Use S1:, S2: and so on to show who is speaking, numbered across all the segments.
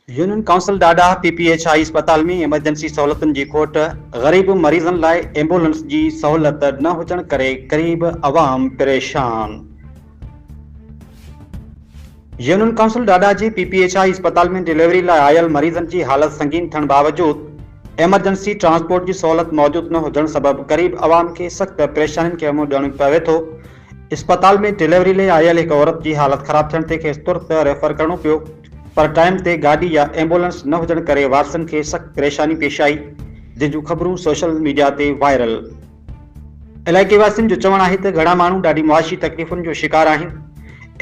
S1: Union council Dadah P P H I اسپتال ۾ emergency سهولتن جي کوٽ، غريب مريضن لاء ايمبولنس جي سهولت نه هجڻ ڪري غريب عوام پريشان. يونين ڪائونسل ڏاڏاهه جي پي پي ايڇ آء اسپتال ۾ ڊليوري لاء آيل مريضن جي حالت سنگين ٿيڻ باوجود ايمرجنسي ٽرانسپورٽ جي سهولت موجود نه هجڻ سبب غريب عوام کي سخت پريشانين کي منهن ڏيڻو پوي ٿو، اسپتال ۾ ڊليوري لاء آيل هڪ عورت جي حالت خراب ٿيڻ تي کيس ترت ريفر ڪرڻو پيو پر ٽائيم تي گاڏي يا ايمبولنس نه هجڻ ڪري وارثن کي سخت پريشاني پيش آئي جنهن جون خبرون سوشل ميڊيا تي وائرل علائقي واسين جو چوڻ آهي ته گهڻا ماڻهو ڏاڍي معاشي تڪليفن جو شڪار آهن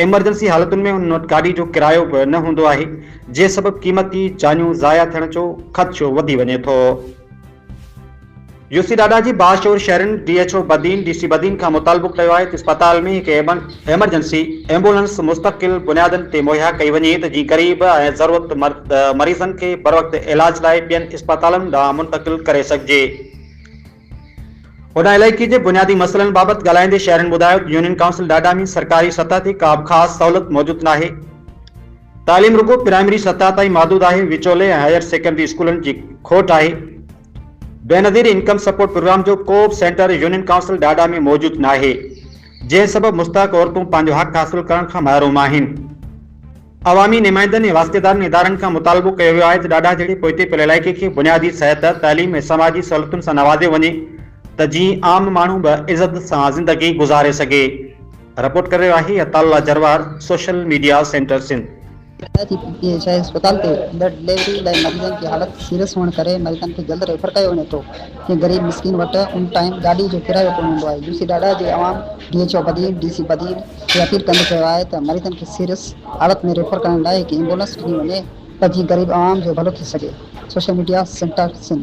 S1: ايمرجنسي حالتن ۾ انهن وٽ گاڏي جو ڪرايو به نه هوندو آهي جنهن سبب قيمتي جانيون ضايع ٿيڻ جو خدشو وڌي وڃي ٿو. يو سي ڊاڊا جي باشعور شهرين D H O Badin D C Badin کان مطالبو ڪيو آهي ته اسپتال ۾ هڪ ايمرجنسي ايمبولنس مستقل بنيادن تي مهيا ڪئي وڃي ته جيئن غريب ۽ ضرورتمند مريضن کي بروقت علاج لاء ٻين اسپتالن ڏانهن منتقل ڪري سگهجي. هن علائقي جي بنيادي مسئلن بابت ڳالهائيندي شهرين ٻڌايو ته يونين ڪائونسل ڊاڊا ۾ سرڪاري سطح تي ڪا به خاص سهولت موجود ناهي، تعليم رڳو پرائمري سطح تائين محدود آهي، وچولي ۽ هائير سيڪنڊري اسڪولن جي کوٽ آهي. بينظير انڪم سپورٽ پروگرام جو ڪو به سينٽر يونين ڪائونسل ڊاڊا ۾ موجود ناهي، جنهن سبب مستحق عورتون پنهنجو حق حاصل ڪرڻ کان محروم آهن. عوامي نمائندن ۽ واسطيدارن ادارن کان مطالبو ڪيو ويو آهي ته ڊاڊا جهڙي پوئتي پيل علائقي کي بنيادي صحت، تعليم ۽ سماجي سهولتن سان نوازيو وڃي ته جيئن عام ماڻهو به عزت سان زندگي گذاري سگهي. رپورٽ ڪري رهيو آهي Ata Ullah Jarwar, social media centre Sindh. پيدا ٿي پي جي اي
S2: شاهي اسپتال تي ايندڙ ڊليوري لاء مريضن جي حالت سيريس هئڻ ڪري مريضن کي جلد ريفر ڪيو وڃي ٿو ڪنهن غريب مسڪين وٽ ان ٽائيم گاڏي جو ڪرايو ڪونه هوندو آهي يوسي ڊاڊا جي عوام D H O Badin D C Badin کي اپيل ڪندي چيو آهي ته مريضن کي سيريس حالت ۾ ريفر ڪرڻ لاء هڪ ايمبولنس ڏني وڃي ته جيئن غريب عوام جو ڀلو ٿي سگهي سوشل ميڊيا سينٽر سنڌ.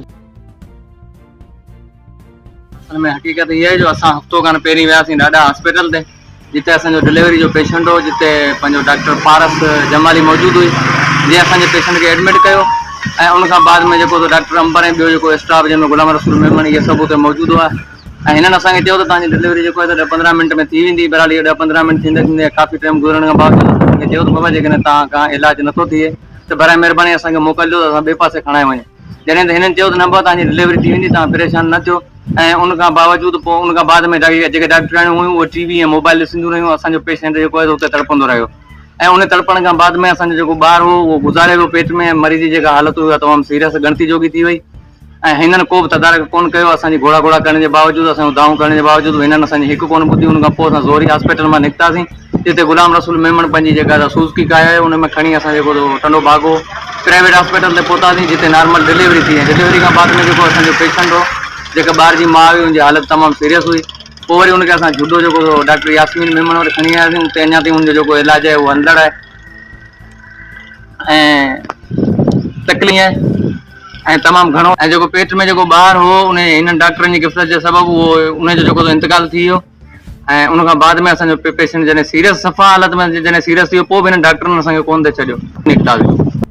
S3: ان ۾ حقيقت اها آهي جو اسان هفتو کن پهرين وياسين ڏاڏا هاسپيٽل تي جتي اسان جو ڊليوري جو پيشنٽ هو جتي پنهنجو ڊاڪٽر پارس جمالي موجود هئي جنهن اسان جي پيشنٽ کي ايڊمٽ ڪيو ۽ ان کان بعد ۾ جيڪو ڊاڪٽر امبر ۽ ٻيو جيڪو اسٽاف جنهن ۾ غلام رسول ميمڻ اهي سڀ اتي موجود هئا ۽ هنن اسان کي چيو ته تهان جي ڊليوري جيڪو آهي ڏهه پندرهن منٽ ۾ ٿي ويندي بهرحال اهو ڏهه پندرهن منٽ ٿيندي ٿيندي ڪافي ٽائيم گذرڻ کان بعد اسان کي چيو ته بابا جيڪڏهن تهان کان علاج نٿو ٿئي ته برائي مهرباني اسان کي موڪل ڏيو ته اسان ٻئي پاسي کڻائي وڃون جڏهن ته هنن چيو ته نه بابا توهان جي ڊليوري ٿي ويندي توهان پريشان نه ٿيو ۽ ان کان باوجود پوء ان کان بعد ۾ جيڪي ڊاڪٽرياڻيون هيون اهي ٽي وي ۽ موبائل ڏسنديون رهيون اسان جو پيشنٽ جيڪو آهي سو اتي تڙپندو رهيو ۽ ان تڙپڻ کان بعد ۾ اسان جو جيڪو ٻار هو اهو گذاري ويو پيٽ ۾ مريض جي جيڪا حالت هئي اها تمام سيريس ڳڻتي جوڳي ٿي وئي ۽ هنن ڪو به تدارڪ ڪونه ڪيو اسان جي گهوڙا گهوڙا ڪرڻ جي باوجود اسان جون دانهون ڪرڻ جي باوجود به هنن اسان جي هڪ ڪونه ٻڌي ان کان پوء اسان زوري هاسپيٽل مان نڪتاسين جتي غلام رسول ميمڻ پنهنجي جيڪا سا سوزڪي ڪاهي آهي ان ۾ کڻي اسان جيڪو سو ٽنڊو باگو پرائيويٽ هاسپيٽل تي پهتاسين جتي نارمل ڊليوري ٿي ۽ ڊليوري کان بعد ۾ جيڪو اسان جو پيشنٽ هو جيڪا ٻار جي ماء هئي ان جي حالت تمام سيريس هئي پوء وري ان کي اسان جهوڊو جيڪو سو ڊاڪٽر ياسمين ميمڻ وٽ کڻي آياسين اتي اڃا تائين ان جو جيڪو علاج آهي اهو هلندڙ آهي ۽ تڪلي آهي ۽ تمام گهڻو ۽ جيڪو پيٽ ۾ جيڪو ٻار هو ان هنن ڊاڪٽرن جي غفلت جي سبب اهو ان جو جيڪو سو انتقال ٿي ويو ۽ ان کان بعد ۾ اسان جو پيشنٽ جڏهن سيريس صفا حالت ۾ جڏهن سيريس ٿي ويو پوء به هنن ڊاڪٽرن اسان کي ڪونه ٿي ڇڏيو نڪتاسين.